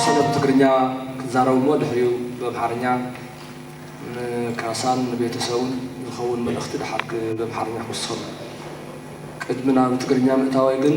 ዝተወሰነ ብትግርኛ ክዛረብ እሞ ድሕሪኡ ብኣምሓርኛ ንካሳን ንቤተሰቡን ዝኸውን መልእኽቲ ድሓር ብኣምሓርኛ ክውስኸሉ። ቅድሚ ናብ ትግርኛ ምእታወይ ግን፣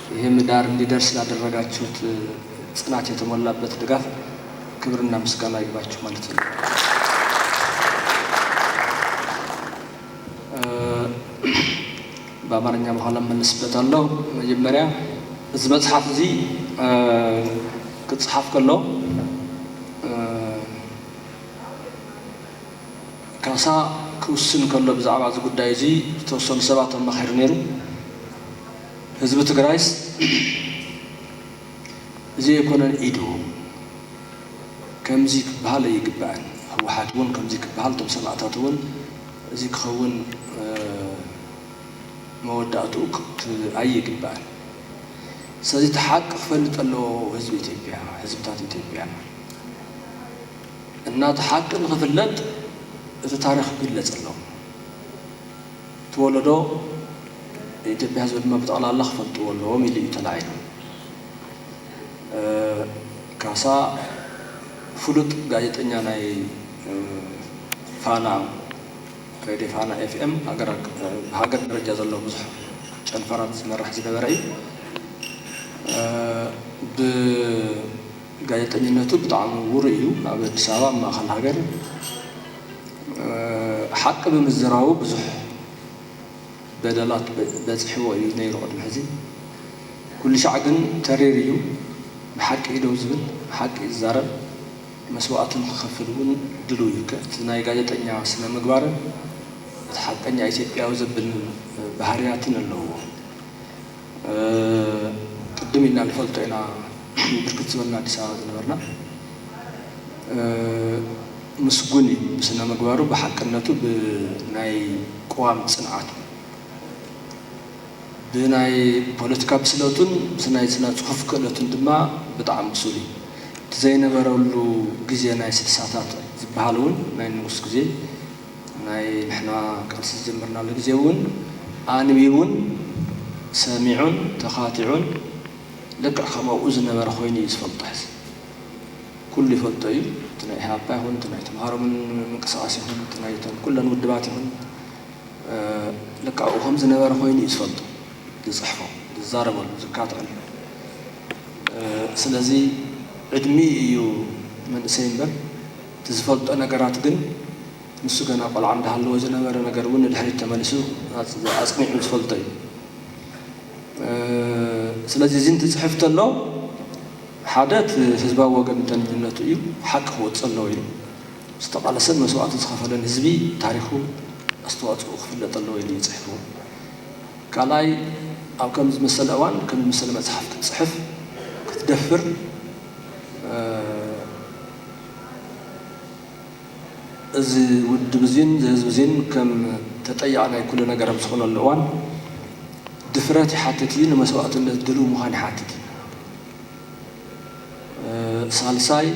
ይሄ ምዳር እንዲደርስ ላደረጋችሁት ጽናት የተሞላበት ድጋፍ ክብርና ምስጋና ይግባችሁ ማለት እፈልጋለሁ። በአማርኛ በኋላ እመለስበታለሁ። መጀመሪያ እዚ መጽሓፍ እዚ ክጽሓፍ ከሎ ካሳ ክውስን ከሎ ብዛዕባ እዚ ጉዳይ እዚ ዝተወሰኑ ሰባት ኣማኺሩ ነይሩ። ህዝቢ ትግራይስ እዚ ኣይኮነን ኢዱ ከምዚ ክበሃል ኣይግባእን ህወሓት እውን ከምዚ ክበሃል እቶም ሰማእታት እውን እዚ ክኸውን መወዳእትኡ ኣይግባእን ስለዚ እቲ ሓቂ ክፈልጥ ኣለዎ ህዝቢ ኢትዮጵያ ህዝብታት ኢትዮጵያ እና እቲ ሓቂ ንክፍለጥ እቲ ታሪክ ክግለፅ ኣለዎ። እቲ ወለዶ ኢትዮጵያ ህዝቢ ድማ ብጠቕላላ ክፈልጥዎ ኣለዎም ኢሉ እዩ ተላዒሉ። ካሳ ፍሉጥ ጋዜጠኛ ናይ ፋና ሬድዮ ፋና ኤፍኤም ብሃገር ደረጃ ዘሎ ብዙሕ ጨንፈራት ዝመርሕ ዝነበረ እዩ። ብጋዜጠኝነቱ ብጣዕሚ ውሩይ እዩ። ኣብ ኣዲስ ኣበባ ኣብ ማእኸል ሃገር ሓቂ ብምዝራቡ ብዙሕ በደላት በጺሕዎ እዩ ነይሩ ቅድሚ ሕዚ። ኩልሻዕ ግን ተሪር እዩ፣ ንሓቂ እዩ ደው ዝብል፣ ሓቂ እዩ ዝዛረብ፣ መስዋእቲ ንክኸፍል እውን ድሉው እዩ። እቲ ናይ ጋዜጠኛ ስነ-ምግባርን እቲ ሓቀኛ ኢትዮጵያዊ ዘብል ባህርያትን ኣለውዎ። ቅድም ኢልና ንፈልጦ ኢና ብርክት ዝበልና ኣዲስ ኣበባ ዝነበርና ምስጉን እዩ ብስነምግባሩ ብሓቅነቱ ብናይ ቅዋም ፅንዓቱ ብናይ ፖለቲካ ብስለቱን ብናይ ስነፅሑፍ ክእለቱን ድማ ብጣዕሚ ብሱል እዩ እቲ ዘይነበረሉ ግዜ ናይ ስልሳታት ዝበሃል እውን ናይ ንጉስ ግዜ ናይ ንሕና ቃልሲ ዝጀመርናሉ ግዜ እውን ኣንቢቡን ሰሚዑን ተኻቲዑን ልክዕ ከም ኣብኡ ዝነበረ ኮይኑ እዩ ዝፈልጦ ሕዚ ኩሉ ይፈልጦ እዩ እቲ ናይ ኢህኣፓ ይኹን እቲ ናይ ተምሃሮ ምንቅስቃስ ይኹን እቲ ናይ እተን ኩለን ውድባት ይኹን ልክዕ ኣብኡ ከም ዝነበረ ኮይኑ እዩ ዝፈልጦ ዝፅሕፎ ዝዛረበሉ ዝካትዐሉ ስለዚ ዕድሚኡ እዩ መንእሰይ እምበር እቲ ዝፈልጦ ነገራት ግን ንሱ ገና ቆልዓ እንዳሃለወ ዝነበረ ነገር እውን ንድሕሪት ተመሊሱ ኣፅኒዑ ዝፈልጦ እዩ። ስለዚ እዚ እንትፅሕፍ ተሎ ሓደ እቲ ህዝባዊ ወገንተኝነቱ እዩ ሓቂ ክወፅእ ኣለዎ ኢሉ ዝተቓለሰን መስዋእቲ ዝኸፈለን ህዝቢ ታሪኹ ኣስተዋፅኡ ክፍለጥ ኣለዎ ኢሉ እዩ ፅሒፍዎ። ካልኣይ ኣብ ከምዚ ዝመሰለ እዋን ከምዚ ዝመሰለ መፅሓፍ ክትፅሕፍ ክትደፍር እዚ ውድብ እዚን እዚ ህዝቢ እዚን ከም ተጠያቒ ናይ ኩሉ ነገር ኣብ ዝኾነሉ እዋን ድፍረት ይሓትት እዩ፣ ንመስዋእትነት ድልው ምዃን ይሓትት እዩ። ሳልሳይ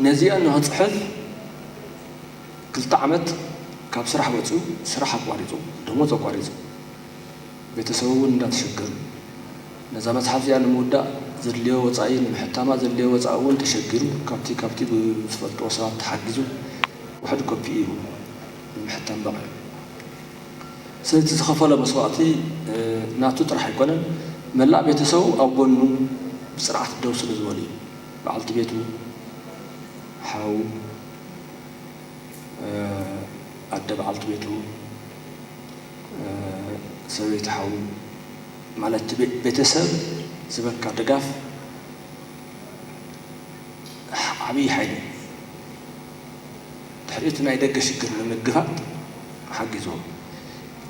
ነዚኣን ንኽፅሕፍ ክልተ ዓመት ካብ ስራሕ ወፂኡ ስራሕ ኣቋሪፁ ደሞዝ ኣቋሪፁ። ቤተሰቡ እውን እንዳተሸገሩ ነዛ መፅሓፍ እዚኣ ንምውዳእ ዘድልዮ ወፃኢ ንምሕታማ ዘድልዮ ወፃኢ እውን ተሸጊሩ ካብቲ ካብቲ ብዝፈልጥዎ ሰባት ተሓጊዙ ውሕድ ኮፒ እዩ ንምሕታም በቒዑ ስለዚ እቲ ዝኸፈሎ መስዋእቲ ናቱ ጥራሕ ኣይኮነን መላእ ቤተሰቡ ኣብ ጎኑ ብፅንዓት ደው ስለዝበሉ እዩ በዓልቲ ቤቱ ሓው ኣደ በዓልቲ ቤቱ ሰበይቲ ሓው ማለት ቤተሰብ ዝበካ ድጋፍ ዓብይ ሓይሊ እዩ ድሕሪ እቲ ናይ ደገ ሽግር ንምግፋጥ ሓጊዝዎ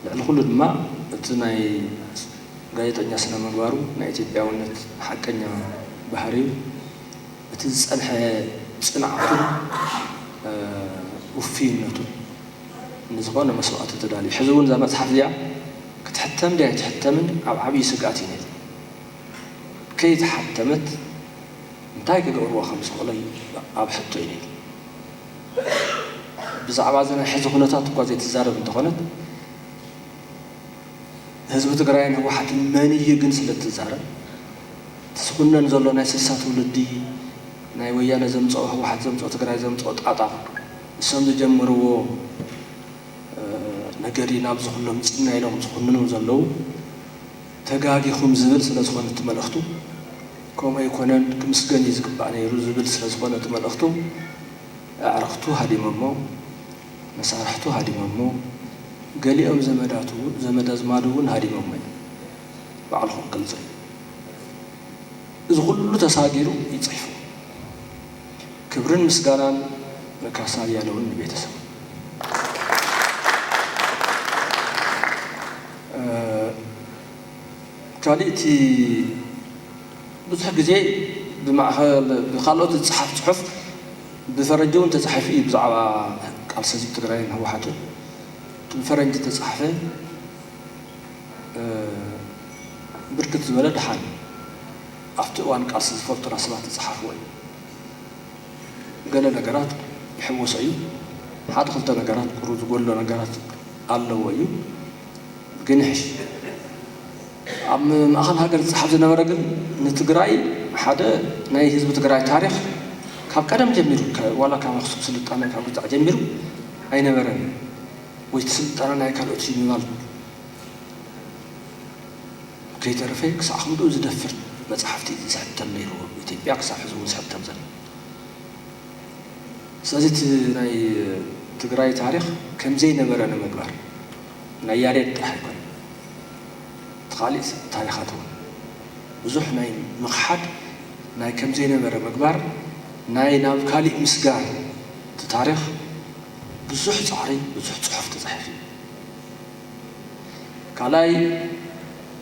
ልዕሊ ኩሉ ድማ እቲ ናይ ጋዜጠኛ ስነ ምግባሩ ናይ ኢትዮጵያውነት ሓቀኛ ባህሪው እቲ ዝፀንሐ ፅንዓቱን ውፍይነቱን ንዝኾነ መስዋእቲ ተዳልዩ። ሕዚ እውን እዛ መፅሓፍ እዚኣ ክትሕተም ድያ ኣይትሕተምን ኣብ ዓብዪ ስግኣት እዩ ነይሩ። ከይተሓተመት እንታይ ክገብርዋ ከም ዝኽእሉ ኣብ ሕቶ እዩ ነይሩ። ብዛዕባ እዚ ናይ ሕዚ ኩነታት እኳ ዘይትዛረብ እንተኾነት ህዝቢ ትግራይን ህወሓትን መን እዩ ግን ስለ እትዛረብ እቲ ዝኹነን ዘሎ ናይ ስልሳ ትውልዲ ናይ ወያነ ዘምፀኦ ህወሓት ዘምፀኦ ትግራይ ዘምፀኦ ጣጣ ንሶም ዝጀመርዎ ነገር እዩ ናብዚ ኩሎም ምፂና ኢሎም ዝኹንኑ ዘለዉ። ተጋጊኹም ዝብል ስለዝኾነ እቲ መልእኽቱ ከምኡ ኣይኮነን ክምስገን እዩ ዝግባእ ነይሩ ዝብል ስለዝኾነ እቲ መልእኽቱ ኣዕርኽቱ ሃዲመሞ፣ መሳርሕቱ ሃዲመሞ፣ ገሊኦም ዘመዳቱ እውን ዘመድ ኣዝማዱ እውን ሃዲመሞ እዮም። ባዕልኹም ግልፂ እዩ። እዚ ኩሉ ተሳጊሩ እዩ ፅሒፉ። ክብርን ምስጋናን ንካሳ ኣያለውን ንቤተሰቡን። ካሊእ እቲ ብዙሕ ግዜ ብማእኸል ብካልኦት ዝፀሓፍ ፅሑፍ ብፈረንጂ እውን ተፃሒፉ እዩ ብዛዕባ ቃልሲ ህዝቢ ትግራይን ህወሓትን እቲ ብፈረንጂ ዝተፃሕፈ ብርክት ዝበለ ደሓን ኣብቲ እዋን ቃልሲ ዝፈልጡና ሰባት ዝጸሓፍዎ እዩ። ገለ ነገራት ይሕወሶ እዩ፣ ሓደ ክልተ ነገራት ቁሩብ ዝጎድሎ ነገራት ኣለዎ እዩ፣ ግን ይሕሽ። ኣብ ማእከል ሃገር ዝጸሓፍ ዝነበረ ግን ንትግራይ ሓደ ናይ ህዝቢ ትግራይ ታሪኽ ካብ ቀደም ጀሚሩ ዋላ ካብ ኣክሱም ስልጣነ ካብ ግዛዕ ጀሚሩ ኣይነበረን እዩ ወይ እቲ ስልጣነ ናይ ካልኦት እዩ ምባል ከይተረፈ ክሳዕ ክንድኡ ዝደፍር መጻሕፍቲ ዝሕተም ነይርዎ ኢትዮጵያ ክሳዕ ሕዚ እውን ዝሕተም ዘሎ ስለዚ እቲ ናይ ትግራይ ታሪኽ ከምዘይነበረ ንምግባር ናይ ያሬድ ጥራሕ ኣይኮነን እቲ ካሊእ ታሪኻት እውን ብዙሕ ናይ ምኽሓድ ናይ ከምዘይነበረ ምግባር ናይ ናብ ካሊእ ምስጋር እቲ ታሪኽ ብዙሕ ጻዕሪ ብዙሕ ጽሑፍ ተጻሒፉ እዩ። ካልኣይ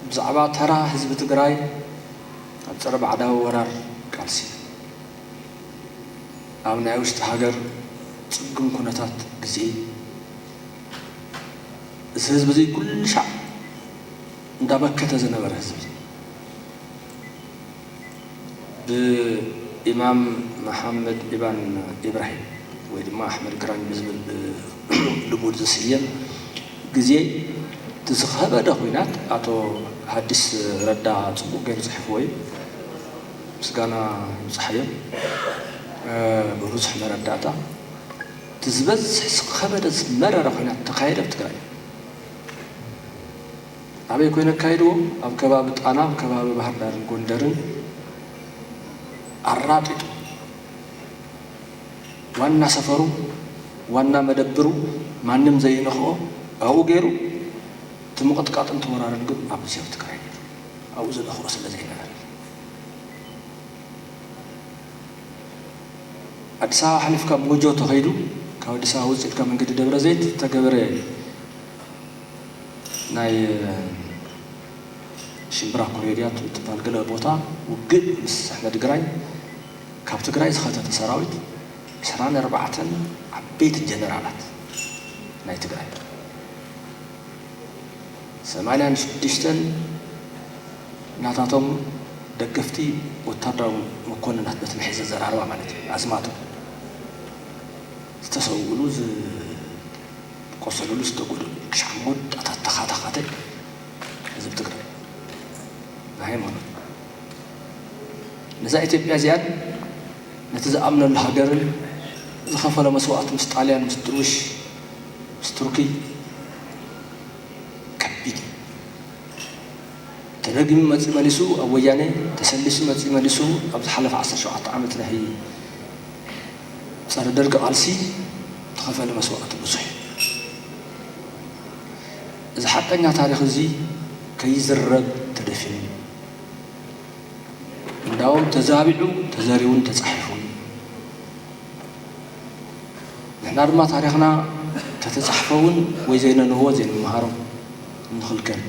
ብዛዕባ ተራ ህዝቢ ትግራይ ኣብ ፀረ ባዕዳዊ ወራር ቃልሲ ኣብ ናይ ውሽጢ ሃገር ፅግም ኩነታት ግዜ እዚ ህዝቢ እዙይ ኩልሻዕ እንዳመከተ ዝነበረ ህዝቢ ብኢማም መሓመድ ኢባን ኢብራሂም ወይ ድማ ኣሕመድ ግራኝ ብዝብል ብልሙድ ዝስየም ግዜ እቲ ዝኸበደ ኩናት ኣቶ ሃዲስ ረዳ ጽቡቕ ገይሩ ጽሒፍዎ እዩ። ምስጋና ይብጽሓዮ ብብዙሕ መረዳእታ እቲ ዝበዝሕ ዝኸበደ ዝመረረ ኩናት ዝተኻየደ ኣብ ትግራይ እዩ። ኣበይ ኮይነ ኣካይድዎ ኣብ ከባቢ ጣና ኣብ ከባቢ ባህርዳርን ጎንደርን ኣራጢጡ ዋና ሰፈሩ ዋና መደብሩ ማንም ዘይነኽኦ ኣብኡ ገይሩ እቲ ምቕጥቃጥን እቲ ወራርን ግን ኣብ ጊዜያዊ ትግራይ ነይሩ ኣብኡ ዝነኽኦ ስለ ዘይነበረ ኣዲስ ኣበባ ሓሊፍካ ሞጆ ተኸይዱ ካብ ኣዲስ ኣበባ ውፅእ ኢልካ መንገዲ ደብረ ዘይት ዝተገበረ ናይ ሽምብራ ኮሬድያ እትባል ገለ ቦታ ውግእ ምስ ኣሕመድግራይ ካብ ትግራይ ዝኸተተ ሰራዊት ዕስራን ኣርባዕተን ዓበይቲ ጀነራላት ናይ ትግራይ ሰማንያን ሽዱሽተን ናታቶም ደገፍቲ ወታደራዊ መኮንናት በቲ መሕዘዘራርባ ማለት እዩ ኣዝማቶም ዝተሰውእሉ ቆሰሉሉ ዝተጎደሉ ክሻዕ መወዳእታ ተኻታኻቲ ህዝቢ ትግራይ ብሃይማኖት ነዛ ኢትዮጵያ እዚኣን ነቲ ዝኣምነሉ ሃገርን ዝኸፈሎ መስዋእቲ ምስ ጣልያን ምስ ድርቡሽ ምስ ቱርኪ ከቢድ እዩ ተደጊሙ መፂኡ መሊሱ ኣብ ወያኔ ተሰሊሱ መፂኡ መሊሱ ኣብ ዝሓለፈ ዓሰርተ ሸውዓተ ዓመት ናይ ፀረ ደርግ ቃልሲ ተኸፈለ መስዋእቲ ብዙሕ እዩ። እዚ ሓቀኛ ታሪኽ እዚ ከይዝረብ ተደፊኑ እዩ። እንዳውም ተዛቢዑ ተዘሪቡን ተፃሒፉን እዩ። ንሕና ድማ ታሪኽና ተተፃሕፈ እውን ወይ ዘይነንህቦ ዘይንመሃሮ እንኽልከል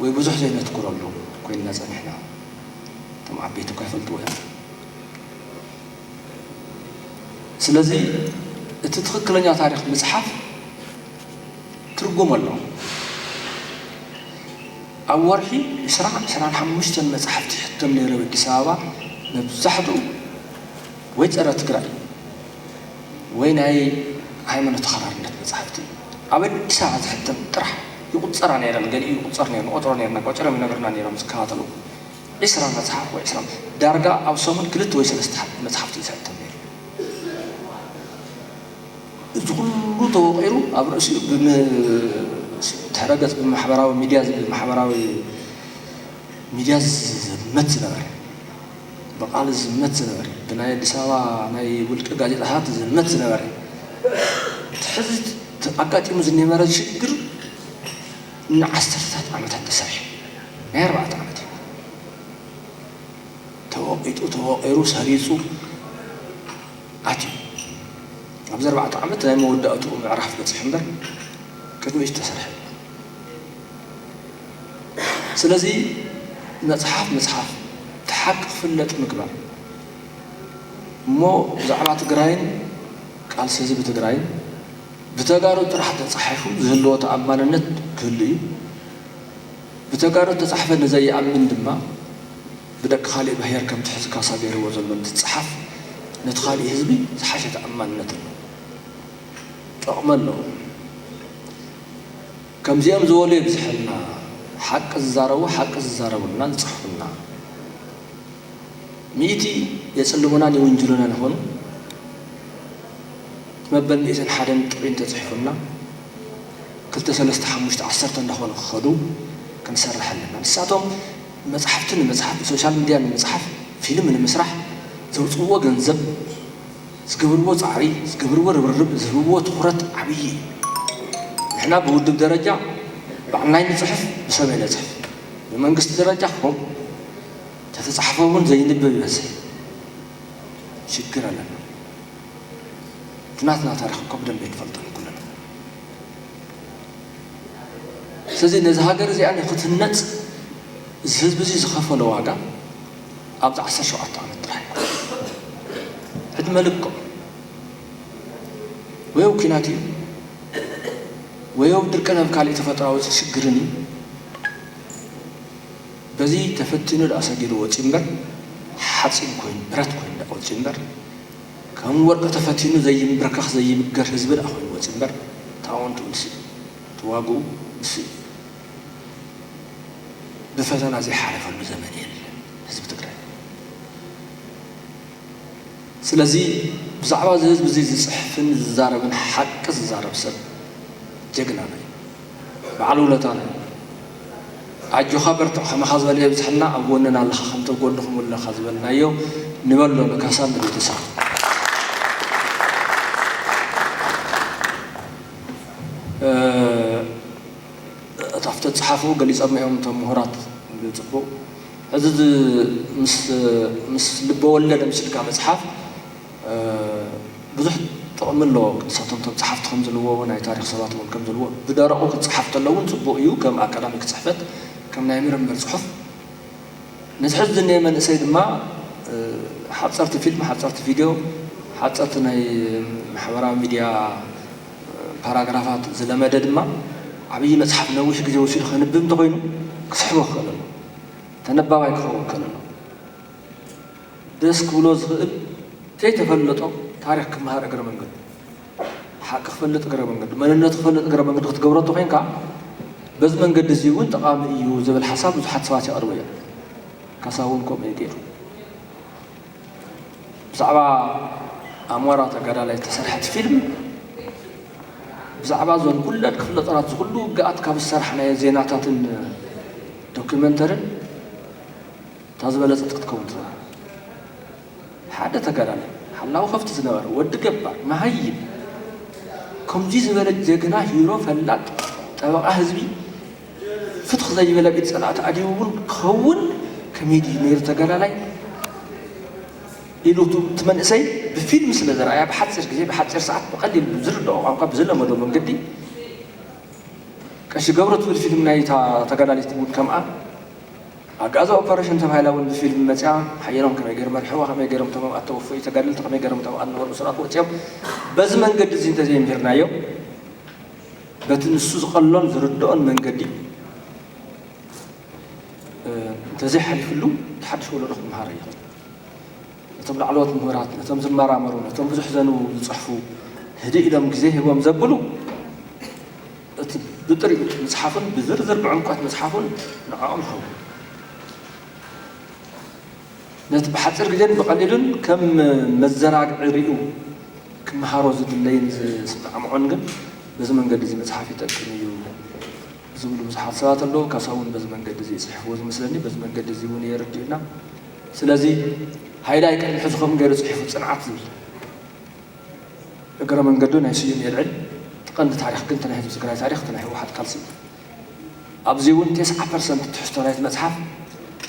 ወይ ብዙሕ ዘይነትኩረሉ ኮይንና ፀኒሕና። እቶም ዓበይቲ እኳ ይፈልጥዎ እዮም። ስለዚ እቲ ትኽክለኛ ታሪኽ ምጽሓፍ ትርጉም ኣለዎ። ኣብ ወርሒ ዕስራ ዕስራን ሓሙሽተን መጻሕፍቲ ይሕተም ነይሩ ኣብ ኣዲስ ኣበባ መብዛሕትኡ ወይ ጸረ ትግራይ ወይ ናይ ሃይማኖት ተኸራርነት መጻሕፍቲ ኣብ ኣዲስ ኣበባ ዝሕተም ጥራሕ ይቁጸራ ነይረን ገሊኡ ይቁጸር ነይሩ ንቆጽሮ ነይርና ቆጺሮም ይነግሩና ነይሮም ዝከታተሉ ዕስራ መጽሓፍ ወይ ዕስራ ዳርጋ ኣብ ሰሙን ክልተ ወይ ሰለስተ መጽሓፍቲ እዩ ዝሕተም ነይሩ። እዚ ኩሉ ተወቂሩ ኣብ ርእሲኡ ብድሕረ ገጽ ብማሕበራዊ ሚድያ ማሕበራዊ ሚድያ ዝዝመት ዝነበረ ብቃል ዝዝመት ዝነበረ ብናይ ኣዲስ ኣበባ ናይ ውልቂ ጋዜጣታት ዝዝመት ዝነበረ እቲ ሕዚ ኣጋጢሙ ዝነበረ ሽግር ንዓሰርተታት ዓመታት ተሰሪሑ ናይ ኣርባዕተ ዓመት እዩ ተወቂጡ ተወቂሩ ሰሪጹ ኣትዩ ኣብዚ ኣርባዕተ ዓመት ናይ መወዳእትኡ ምዕራፍ በጺሑ እምበር ቅድሚኡ ዝተሰርሐ ስለዚ መጽሓፍ ምጽሓፍ እቲ ሓቂ ክፍለጥ ምግባር እሞ ብዛዕባ ትግራይን ቃልሲ ህዝቢ ትግራይን ብተጋሩ ጥራሕ ተፃሒፉ ዝህልዎ ተኣማንነት ክህሉ እዩ። ብተጋሩ ዝተፃሕፈ ንዘይኣምን ድማ ብደቂ ካሊእ ብሄር ከምቲ ሕዚ ካሳ ገይርዎ ዘሎ እንትፀሓፍ ነቲ ካሊእ ህዝቢ ዝሓሸ ተኣማንነት ኣለዎ። ጥቕሚ ኣለዎ። ከምዚኦም ዝበሉ የብዝሐልና ሓቂ ዝዛረቡ ሓቂ ዝዛረቡልና ዝፅሕፉልና። ሚኢቲ የፅልሙናን ይውንጅሉናን ይኾኑ። መበል ሚእትን ሓደን ጥሪ እንተጽሒፉልና ክልተ ሰለስተ ሓሙሽተ ዓሰርተ እንዳኾኑ ክኸዱ ክንሰርሕ ኣለና። ንሳቶም መጽሓፍቲ ንምጽሓፍ፣ ብሶሻል ምድያ ንምጽሓፍ፣ ፊልም ንምስራሕ ዘውጽእዎ ገንዘብ፣ ዝገብርዎ ጻዕሪ፣ ዝገብርዎ ርብርብ፣ ዝህብዎ ትኹረት ዓብዪ እዩ። ንሕና ብውድብ ደረጃ ባዕልና ኣይንጽሕፍ ብሰብ ኣይነጽሕፍ። ብመንግስቲ ደረጃ ከምኡ ተተጻሕፈ እውን ዘይንብብ ይበዝሕ ሽግር ኣለና። እቲ ናትና ታሪኽ እኮ ብደንቢ ኣይንፈልጦን ኩልና። ስለዚ ነዚ ሃገር እዚኣ ንክትህነጽ እዚ ህዝቢ እዚ ዝኸፈሎ ዋጋ ኣብዚ ዓሰርተ ሸውዓተ ዓመት ጥራሕ እዩ። ዕድመ ልክዑ ወይ ኣብ ኲናት እዩ ወይ ኣብ ድርቅን ኣብ ካልእ ተፈጥሯዊ ሽግርን እዩ። በዚ ተፈቲኑ ደኣ ሰጊሩ ወጺኡ እምበር ሓጺን ኮይኑ ብረት ኮይኑ ደኣ ወጺኡ እምበር ከም ወርቂ ተፈቲኑ ዘይምብርከኽ ዘይብገር ህዝቢ ደኣ ኮይኑ ወጺኡ እምበር ታወንቱ ንሱ እዩ ተዋግኡ ንሱ እዩ ብፈተና ዘይሓለፈሉ ዘመን የለን ህዝቢ ትግራይ ስለዚ ብዛዕባ እዚ ህዝቢ እዚ ዝጽሕፍን ዝዛረብን ሓቂ ዝዛረብ ሰብ ጀግናና እዩ። በዓል ውለታና ኢኻ ኣጆኻ በርትዕ ከማኻ ዝበለ የብዝሐልና ኣብ ጎንና ኣለኻ ከምቲ ኣብ ጎንኹም ኣለኻ ዝበልናዮ ንበሎ ንካሳን ንቤተሰቡን ኣብቲ ተጻሓፉ ገሊጾም እዮም እቶም ምሁራት ብጽቡቕ እዚ ምስ ልበወለድ ምስልካ መጽሓፍ ብዙሕ ጥቕሚ ኣለዎ ቅድሳቶም እቶም ጸሓፍቲ ከም ዝልዎ ናይ ታሪኽ ሰባት እውን ከም ዝልዎ ብደረቑ ክጸሓፍ ተሎ እውን ጽቡቕ እዩ ከም ኣካዳሚክ ጽሕፈት ከም ናይ ምርምር ጽሑፍ ነቲ ሕዚ ዝኒኤ መንእሰይ ድማ ሓጸርቲ ፊልም ሓጸርቲ ቪድዮ ሓጸርቲ ናይ ማሕበራዊ ሚድያ ፓራግራፋት ዝለመደ ድማ ዓብዪ መጽሓፍ ነዊሕ ግዜ ወሲዱ ከንብብ እንተኾይኑ ክስሕቦ ክኽእል ኣለዎ ተነባባይ ክኸውን ክኽእል ኣለዎ። ደስ ክብሎ ዝኽእል ከይተፈለጦ ታሪኽ ክመሃር እግረ መንገዱ ሓቂ ክፈልጥ እግረ መንገዱ መንነቱ ክፈልጥ እግረ መንገዱ ክትገብሮ እንተኾይንካ በዚ መንገዲ እዚ እውን ጠቓሚ እዩ ዝብል ሓሳብ ብዙሓት ሰባት የቕርቡ እዮም ካሳ እውን ከምኡ እዩ ገይሩ ብዛዕባ ኣሞራ ተጋዳላይ ዝተሰርሐት ፊልም ብዛዕባ ዞን ኩለን ክፍለ ጦራት ዝኩሉ ውግኣት ካብ ዝሰራሕናዮ ዜናታትን ዶኪመንተርን እታ ዝበለጸት ክትከውን ትዝራብ ሓደ ተጋዳላይ ሓላዊ ከፍቲ ዝነበረ ወዲ ገባር መሃይም ከምዙይ ዝበለ ጀግና ሂሮ ፈላጥ ጠበቓ ህዝቢ ፍትኽ ዘይበለ ቢድ ጸላእቲ ኣዲቡ እውን ክኸውን ከመይ ድዩ ነይሩ ተጋዳላይ ኢሉ እቲ መንእሰይ ብፊልም ስለ ዝረኣያ ብሓፂር ግዜ ብሓፂር ሰዓት ብቐሊል ብዝርድኦ ቋንቋ ብዝለመዶ መንገዲ ቀሺ ገብሩ ትብል ፊልም ናይ እታ ተጋዳሊት እውን ከምኣ ኣብ ጋዛ ኦፐረሽን ተባሂላ እውን ብፊልም መጺኣ ሓየሎም ከመይ ገይሩ መርሕዋ ከመይ ገይሮም እቶም ኣብኣ እተወፈዩ ተጋደልቲ ከመይ ገይሮም እቶም ኣብኣ ዝነበሩ እሱራት ወጺኦም በዚ መንገዲ እዚ እንተዘይ ምሂርናዮ በቲ ንሱ ዝቐሎን ዝርድኦን መንገዲ እንተዘይ ሓሊፍሉ እቲ ሓድሽ ወለዶ ክምሃሮ ይኽእል ነቶም ላዕለዎት ምሁራት ነቶም ዝመራመሩ ነቶም ብዙሕ ዘንብቡ ዝጽሕፉ ህድእ ኢሎም ግዜ ሂቦም ዘብሉ እቲ ብጥሪኡ ምጽሓፉን ብዝርዝር ብዕምቈት ምጽሓፉን ንዕኦም ሃቡ። ነቲ ብሓጺር ግዜን ብቐሊሉን ከም መዘናግዒ ርእዩ ክመሃሮ ዝድለይን ዝስማዕምዖን ግን በዚ መንገዲ እዚ ምጽሓፍ ይጠቅም እዩ ዝብሉ ብዙሓት ሰባት ኣለዉ። ካሳ'ውን በዚ መንገዲ እዚ እዩ ጽሒፍዎ ዝመስለኒ፣ በዚ መንገዲ እዚ እውን እዩ የርድኡና። ስለዚ ሃይላይ ቅድሚ ሕዚ ከምኡ ገይሩ ጽሒፉ ጽንዓት ዝብል። እግረ መንገዱ ናይ ስዩም የልዕል እቲ ቀንዲ ታሪኽ ግን እቲ ናይ ህዝቢ ትግራይ ታሪኽ እቲ ናይ ህወሓት ቃልሲ እዩ ኣብዚ እውን ቴስዓ ፐርሰንት ትሕዝቶ ናይቲ መፅሓፍ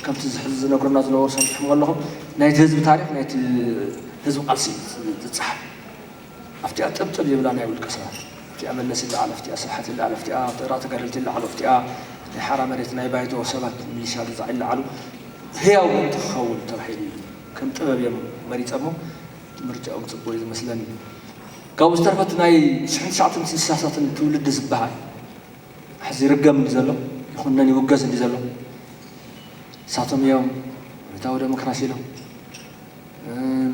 ከምቲ ሕዚ ዝነግሩና ዝነበሩ ሰሚዕኹም ኣለኹም ናይቲ ህዝቢ ታሪኽ ናይቲ ህዝቢ ቃልሲ እዩ ዝፀሓፍ ኣብቲኣ ጥብጥብ ይብላ ናይ ውልቀ ሰባት ኣብቲኣ መለስ ይለዓል ኣብቲኣ ስብሓት ይለዓል ኣብቲኣ ጥራ ተጋደልቲ ይለዓሉ ኣብቲኣ ናይ ሓራ መሬት ናይ ባይቶ ሰባት ሚሊሻ ግዛዕ ይለዓሉ ህያው ምእንቲ ክኸውን ተባሂሉ እዩ ከም ጥበብ እዮም መሪፀሞ ምርጫኦም ጽቡቅ እዩ ዝመስለኒ ካብኡ ዝተርፈ እቲ ናይ ሽሕን ትሽዓተን ስሳሳትን ትውልዲ ዝበሃል ሕዚ ይርገም እንዲ ዘሎ ይኹነን ይውገዝ እንዲ ዘሎ ንሳቶም እዮም ኣብዮታዊ ደሞክራሲ ኢሎም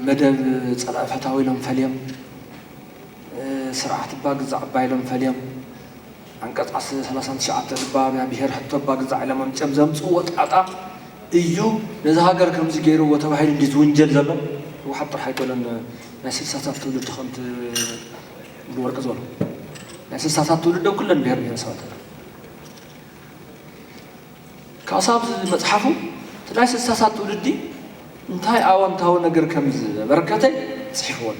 መደብ ጸላኢ ፈታዊ ኢሎም ፈልዮም ስርዓት እባ ግዛእ እባ ኢሎም ፈልዮም ዓንቀፅ ዓስ ሰላሳን ትሽዓተ እባ ናይ ብሄር ሕቶ እባ ግዛዕ ኢሎም ኣምፂኦም ዘምፅእዎ ጣጣ እዩ ነዛ ሃገር ከምዚ ገይርዎ ተባሂሉ እንድዩ ዝውንጀል ዘሎ ህወሓት ጥራሕ ኣይኮነን ናይ ስልሳታት ትውልዲ ከምቲ ወዲ ወርቂ ዝበሎ ናይ ስልሳታት ትውልዲ ኣብ ኩለን ብሄር ብሄረሰባት ኣለዋ ካሳ ኣብዚ መፅሓፉ እቲ ናይ ስልሳታት ትውልዲ እንታይ ኣወንታዊ ነገር ከም ዘበርከተ ፅሒፍዎ ኣሎ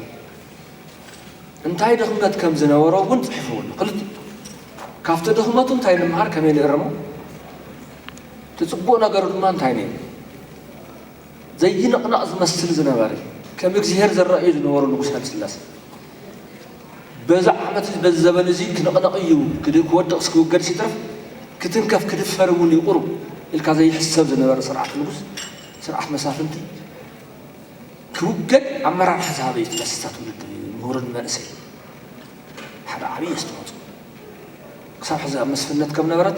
እንታይ ድኽመት ከም ዝነበሮ እውን ጽሒፍዎ ኣሎ። ክልቲኡ ካብቲ ድኽመቱ እንታይ ንምሃር ከመይ ንእርሞ፣ እቲ ጽቡቕ ነገሩ ድማ እንታይ ነይሩ ዘይንቕነቕ ዝመስል ዝነበረ ከም እግዚሄር ዝረኣዩ ዝነበሩ ንጉስ ሃይለስላሴ በዚ ዓመት በዚ ዘበን እዚ ክንቕነቕ እዩ ክወድቕስ ክውገድስ ይትረፍ ክትንከፍ ክድፈር እውን ይቑሩ ኢልካ ዘይሕሰብ ዝነበረ ስርዓት ንጉስ ስርዓት መሳፍንቲ ክውገድ ኣመራርሓ ዝሃበ እዩ እቲ ፈሰሳት ውድድር እዩ ምሁር ንመንእሰይ ሓደ ዓብዪ ኣስተዋፅኦ ክሳብ ሕዚ ኣብ መስፍነት ከም ነበረት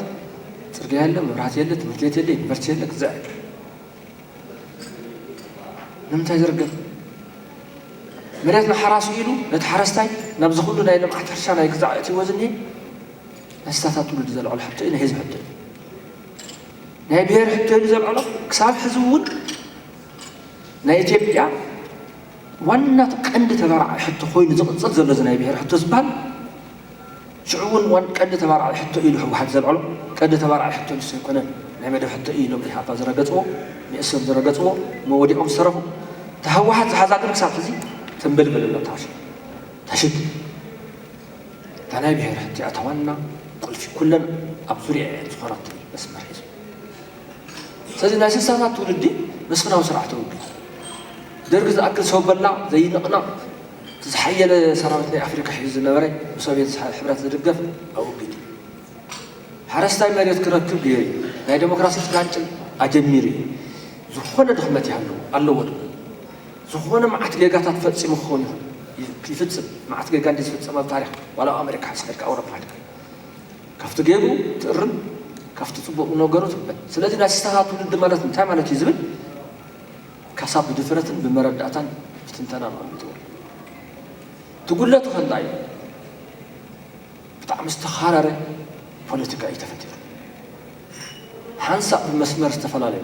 ፅርግያ የለ መብራህቲ የለ ትምህርት ቤት የለ ዩኒቨርሲቲ የለ ክዘዕ ንምንታይ ዝርገፍ መሬት ንሓራሱ ኢሉ ነቲ ሓረስታይ ናብዚ ኩሉ ናይ ልምዓት ሕርሻ ናይ ክዛዕ እትዎ ዝኒሀ ናይ ስታታት ትውልዲ ዘልዕሎ ሕቶ እዩ ናይ ህዝቢ ሕቶ እዩ ናይ ብሄር ሕቶ ኢሉ ዘልዕሎ ክሳብ ሕዚ እውን ናይ ኢትዮጵያ ዋና ቀንዲ ተባራዒ ሕቶ ኮይኑ ዝቕፅል ዘሎ እዚ ናይ ብሔር ሕቶ ዝበሃል ሽዑ እውን ዋን ቀንዲ ተባራዒ ሕቶ ኢሉ ህወሓት ዘልዕሎ ቀንዲ ተባራዒ ሕቶ ንሱ ኣይኮነን ናይ መደብ ሕቶ እዩ ኢሎም ኢህኣፓ ዝረገፅዎ ንእሶም ዝረገፅዎ መወዲኦም ዝሰረኹ እታ ህወሓት ዝሓዛ ግን ክሳብ ሕዚ ትንብልብል ኣሎ ታሽ ታሽት እታ ናይ ብሔር ሕቶ እያ እታ ዋና ቁልፊ ኩለን ኣብ ዙሪያ እየን ዝኾናት መስመር ሒዙ ስለዚ ናይ ስሳታት ትውልዲ መስፍናዊ ስርዓት ተወግድ ደርግ ዝኣክል ሰው በላ ዘይንቕነቕ እቲ ዝሓየለ ሰራዊት ናይ ኣፍሪካ ሒዙ ዝነበረ ብሶቪየት ሕብረት ዝድገፍ ኣወጊዱ ሓረስታይ መሬት ክረክብ ገይሩ ናይ ዴሞክራሲ ጭላንጭል ኣጀሚሩ እዩ ዝኾነ ድኽመት ይሃለዎ ኣለዎ ዶ ዝኾነ መዓት ጌጋታት ፈፂሙ ክኸውን ይፍፅም መዓት ጌጋ እንዲ ዝፍፀም ኣብ ታሪክ ዋላ ኣብ ኣሜሪካ ሓስኻ ኢልካ ኣውሮፓ ሓድካ ካብቲ ጌሩ ትእርም ካብቲ ጽቡቅ ነገሩ ትምበል ስለዚ ናይ ስታሃ ትውልዲ ማለት እንታይ ማለት እዩ ዝብል ካሳ ብድፍረትን ብመረዳእታን ብትንተናን ኣቅሚጥዎ ኣሎ እቲ ጉድለቱ ከ እንታይ እዩ ብጣዕሚ ዝተኻረረ ፖለቲካ እዩ ተፈጢሩ። ሓንሳእ ብመስመር ዝተፈላለዩ፣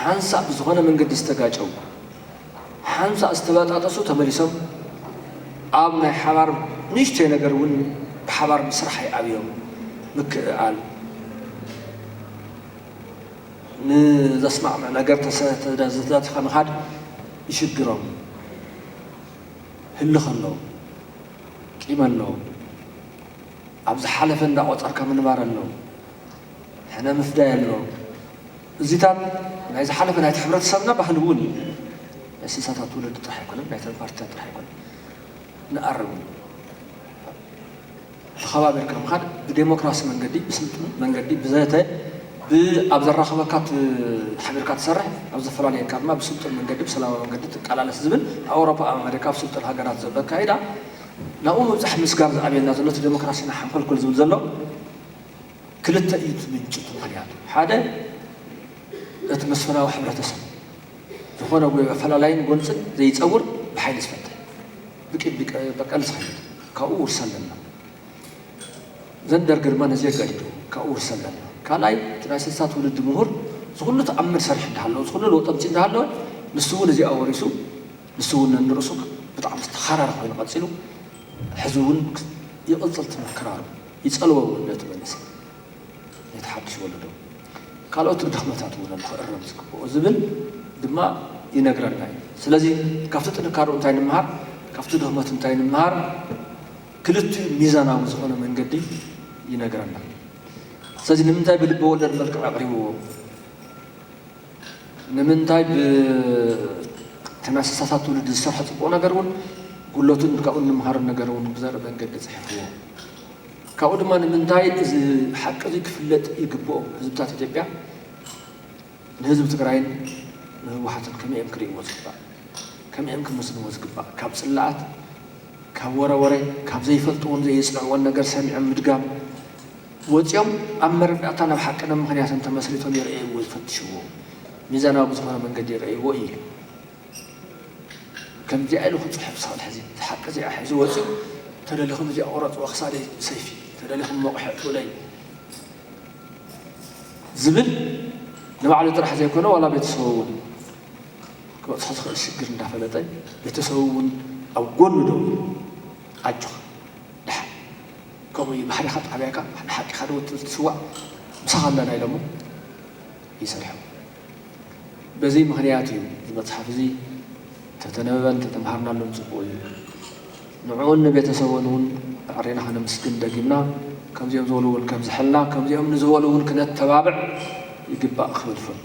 ሓንሳእ ብዝኾነ መንገዲ ዝተጋጨዉ፣ ሓንሳእ ዝተበጣጠሱ ተመሊሶም ኣብ ናይ ሓባር ንእሽቶይ ነገር እውን ብሓባር ምስራሕ ኣይኣብዮም። ምክእኣል ንዘስማዕምዕ ነገር ተዳቲኻ ምኻድ ይሽግሮም። ህልኽ ኣለዎም። ቂም ኣለዎም። ኣብ ዝሓለፈ እንዳቆጸርካ ምንባር ኣሎ ሕነ ምፍዳይ ኣሎ እዚታት ናይ ዝሓለፈ ናይቲ ሕብረተሰብና ባህሊ እውን እዩ ናይ ስሳታት ወለዲ ጥራሕ ኣይኮነን ናይተን ፓርቲታት ጥራሕ ኣይኮነን ንኣርም ተኸባቢርካ ምኻድ ብዴሞክራሲ መንገዲ ብስልጡን መንገዲ ብዘተ ብኣብ ዘራኽበካ ሓቢርካ ትሰርሕ ኣብ ዘፈላለየካ ድማ ብስልጡን መንገዲ ብሰላማዊ መንገዲ ትቃላለስ ዝብል ኣብ ኣውሮፓ ኣብ ኣመሪካ ኣብ ስልጡን ሃገራት ዘሎ ኣካይዳ ናብኡ ምብጻሕ ምስጋር ዝኣብየና ዘሎ እቲ ደሞክራሲና ሓንኮልኮል ዝብል ዘሎ ክልተ እዩ እቲ ምንጪ እቲ ምኽንያቱ ሓደ እቲ መስፍናዊ ሕብረተሰብ ዝኾነ ጉይ ኣፈላላይን ጎንጽን ዘይጸውር ብሓይሊ ዝፈተ ብቂም በቀል ዝኸይድ ካብኡ ውርሰ ኣለና ዘን ደርግ ድማ ነዚ የጋዲዱ ካብኡ ውርሰ ኣለና ካልኣይ እቲ ናይ ስልሳ ትውልዲ ምሁር ዝኹሉ ተኣምር ሰርሒ እንዳሃለወ ዝኹሉ ለውጢ ኣምጺእ እንዳሃለወ ንሱ እውን እዚኣ ወሪሱ ንሱ እውን ነንርእሱ ብጣዕሚ ዝተኻረረ ኮይኑ ቀጺሉ ሕዚ እውን ይቕጽል ትምህር ክራሩ ይጸልዎ እውን ነቲ መንእሰይ ነቲ ሓድሽ ወለዶ ካልኦት ድኽመታት እውን ኣሎ ክእረም ዝግብኦ ዝብል ድማ ይነግረና እዩ ስለዚ ካብቲ ጥንካርኡ እንታይ ንምሃር ካብቲ ድኽመቱ እንታይ ንምሃር ክልቲኡ ሚዛናዊ ዝኾነ መንገዲ ይነግረና ስለዚ ንምንታይ ብልበ ወለድ መልክዕ ኣቕሪብዎ ንምንታይ ብተናሳሳታት ትውልዲ ዝሰርሖ ጽቡቕ ነገር እውን ጉለቱን ካብኡ እንምሃሮ ነገር እውን ብዘርኢ መንገዲ ጽሒፍዎ። ካብኡ ድማ ንምንታይ እዚ ሓቂ እዚ ክፍለጥ ይግብኦ፣ ህዝብታት ኢትዮጵያ ንህዝቢ ትግራይን ንህወሓትን ከመይ እዮም ክርእይዎ ዝግባእ፣ ከመይ እዮም ክምስልዎ ዝግባእ፣ ካብ ጽላኣት፣ ካብ ወረ ወረ፣ ካብ ዘይፈልጥዎን ዘየጽንዕዎን ነገር ሰሚዖም ምድጋም፣ ወጺኦም ኣብ መረዳእታ ናብ ሓቅነ ምኽንያትን ተመስሪቶም ይርእይዎ ዝፈትሽዎ ሚዛናዊ ብዝኾነ መንገዲ ይርእይዎ ኢዩ ኢሉ። ከምዚኣ ኢሉ ክጽሕፍ ዝኽእል ሕዚ ሓቂ እዚኣ ሒዙ ወጺኡ ተደሊኹም እዚኣ ቁረጽዋ ክሳደይ ብሰይፊ ተደሊኹም መቑሕ ኣእትውለይ ዝብል ንባዕሉ ጥራሕ ዘይኮነ ዋላ ቤተሰቡ እውን ክበጽሖ ዝኽእል ሽግር እንዳፈለጠ ቤተሰቡ እውን ኣብ ጎኑ ደው ኢሉ ኣጆኻ ደሓን ከምኡ እዩ ባሕሪኻ ጣብያካ ንሓቂኻ ዶ ትስዋእ ምሳኻ ኣለና ኢሎሞ ይሰርሑ በዚ ምኽንያት እዩ እዚ መጽሓፍ እዚ ተተነበበን ተተምሃርናሉን ጽቡቅ እዩ ንዕኡን ንቤተሰቡን እውን ኣዕሪና ከነምስግን ደጊምና ከምዚኦም ዝበሉ እውን ከብዝሐልና ከምዚኦም ንዝበሉ እውን ክነተባብዕ ይግባእ ክብል እፈቱ።